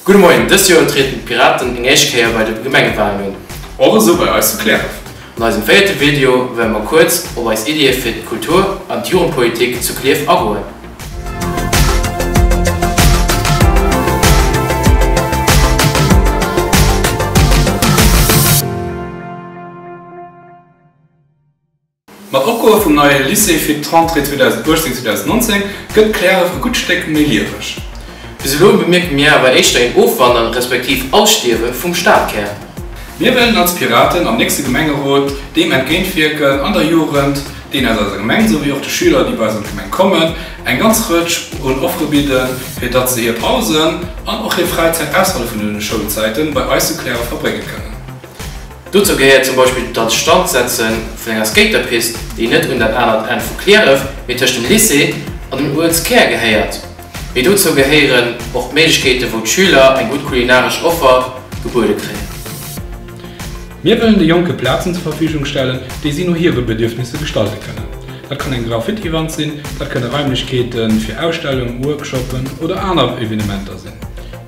Gudde Moien, dëst Joer utreten d'Piraten eng éischt Kéier bei de Gemengewalen un. Och esou bei eis zu Cliärref. An eisem véierte Video wëlle mer kuerz op eis Iddie fir d'Kultur an d'Jugendpolitik zu Clierf agoen. Mat Opgoe vum neie Lycée fir d'Rentrée 2018/2019 gëtt Klärew e gutt Stéck méi lieweg. Bis elo bemierke mir awer éischter een Ofwandern, respektiv Ausstierwe vum Stadkär. Mir wëllen als Piraten am nächste Gemengerot deem entgéintwierken an der Jugend, deen aus eiser Gemeng, souwéi och de Schüler, déi bei eis an d'Gemeng kommen, eng ganz Rëtsch un Offere bidden, fir datt se hir Pausen an och hir Fräizäit ausserhalb vun den Schoulzäiten bei eis zu Klärew verbrénge kënnen. Dozou gehéiert zum Beispill d'Anstandsetze vun enger Skaterpist, déi net un dat anert Enn vu Cliärref, mee tëscht dem Lycée an den Uelzkär gehéiert. Mee dozou gehéieren och d'Méiglechkeete wou d'Schüler eng gutt kulinaresch Offer gebuede kréien. Mir wëllen de Jonke Plazen zur Verfügung stellen, déi si no hire Bedürfnisse gestalte kënnen. Dat kann eng Graffitiwand sinn, dat kënne Raimlechkeete fir Ausstellungen, Workshoppen oder aner Evenementer sinn.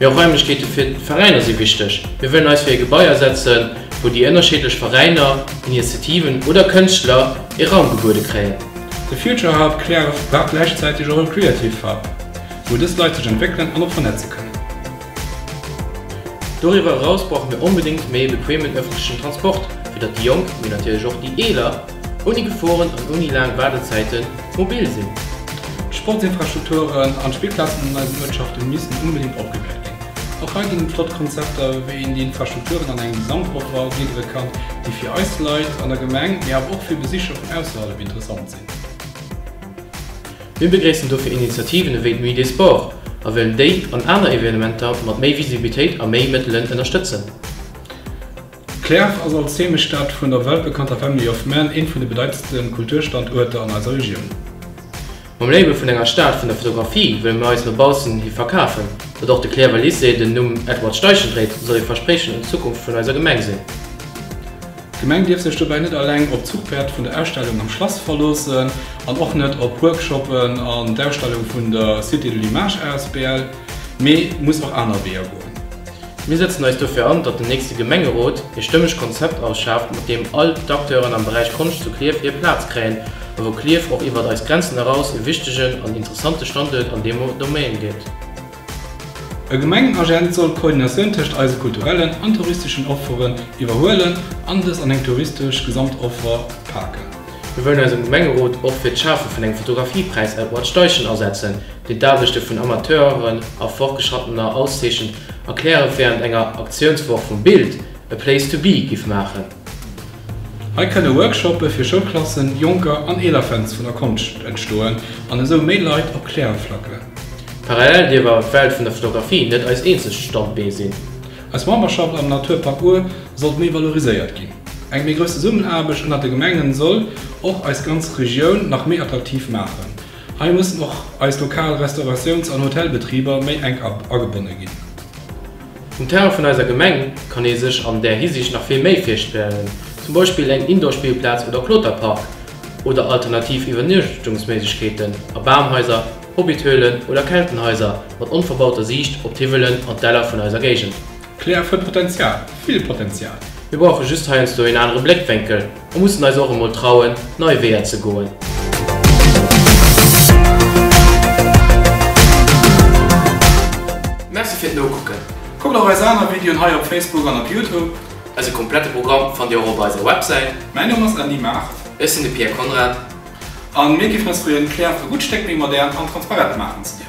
Mee och Raimlechkeete fir d'Veräiner si wichteg. Mir wëllen eis fir e Gebai asetzen, wou déi ënnerscheedlech Veräiner, Initiativen oder Kënschtler ee Raum gebuede kréien. De Future Hub Cliärref war gläichzäiteg och e Creative Hub, wou dës Leit sech entwéckelen an och vernetze kënnen. Doriwwer eraus brauche mir onbedéngt méi e bequemen ëffentlechen Transport, fir datt déi Jonk, mee natierlech och déi Eeler, ouni Geforen an ouni laang Waardezäiten mobil sinn. D'Sportsinfrastrukturen an d'Spillplazen an eisen Uertschaften missten onbedingt opgewäert ginn. Och hei ginn et flott Konzepter, wéi een déi Infrastrukturen an engem Gesamtoffall gliddere kann, déi fir eis Leit an der Gemeng, mee awer och fir Besicher vun ausserhalb interessant sinn. Mir begréissen dofir Initiativen ewéi d'Nuit des Sports a wëllen déi an aner Evenementer mat méi Visibilitéit a méi Mëttelen ënnerstëtzen. Klärf ass als Heemechtsstad vun der weltbekannter Family of Man ee vun de bedeitendste Kulturstanduerter an eiser Regioun. Mam Label vun enger Stad vun der Fotografie wëlle mir eis no baussen hi verkafen. Datt och de Klärwer Lycée den Numm Edward Steichen dréit, soll ee Verspriechen un d'Zukunft vun eiser Gemeng sinn. D'Gemeng dierf sech dobäi net eleng op d'Zuchpäerd vun der Ausstellung am Schlass verloossen an och net op Workshoppen an d'Ausstellung vun der Cité de l'Image asbl. mee muss och aner Weeër goen. Mir sëtzen eis dofir an, datt den nächste Gemengerot ee stëmmeg Konzept ausschaaft, mat deem all d'Acteuren am Beräich Konscht zu Klierf hir Plaz kréien a wou Klierf och iwwert eis Grenzen eraus ee wichtegen an interessante Standuert an deem Domaine gëtt. E Gemengenagent soll d'Koordinatioun tëscht eise kulturellen an touristeschen Offeren iwwerhuelen an dës an eng touristesch Gesamtoffer paken. Mir wëllen eis am Gemengerot och fir d'Schafe vun engem Fotografiepräis Edward Steichen asetzen, déi d'Aarbechte vun Amateuren a Fortgeschrattener auszeechent, erklären, wärend enger Aktiounswoch vum Bild a place to be giff maachen. Hei kënne Workshoppe fir Schoulklassen, Jonker an eeler Fans vun der Konscht entstoen an esou méi Leit op Klärref flacken. Parallel dierf awer d'Welt vun der Fotografie net eist eenzegt Standbeen sinn. Eis Memberschaft am Naturpark Our sollt méi valoriséiert ginn. Eng méi grouss Zesummenaarbecht ënnert de Gemengen soll och eis ganz Regioun nach méi attraktiv maachen. Hei mussen och eis lokal Restauratiouns an Hotelbetriber méi enk agebonne ginn. Um Terrain vun eiser Gemeng kann ee sech an där Hisiicht nach vill méi virstellen, zum Beispill eng Indoorspillplaz oder Kloterpark oder alternativ Iwwernuechtungsméiglechkeeten a Bamhaiser, Hobbithöhlen oder Keltenhaiser mat onverbauter Siicht op d'Hiwwelen an d'Däller vun eiser Géigend. Klärf huet Potenzial, vill Potenzial! Mir brauche just heiansdo een anere Bléckwénkel. A mussen eis och emol trauen, nei Weeër ze goen. Merci fir d'Nokucken! Kuckt och eis aner Videoen hei op Facebook an op Youtube. Eise komplette Programm fannt Dir och op eiser Websäit. Mäin Numm ass Andy Maart. Ech sinn de Pierre Konrad. A mir géifen eis freeën, d'Claire e gutt Stéck méi modern an transparent maachen ze dierfen.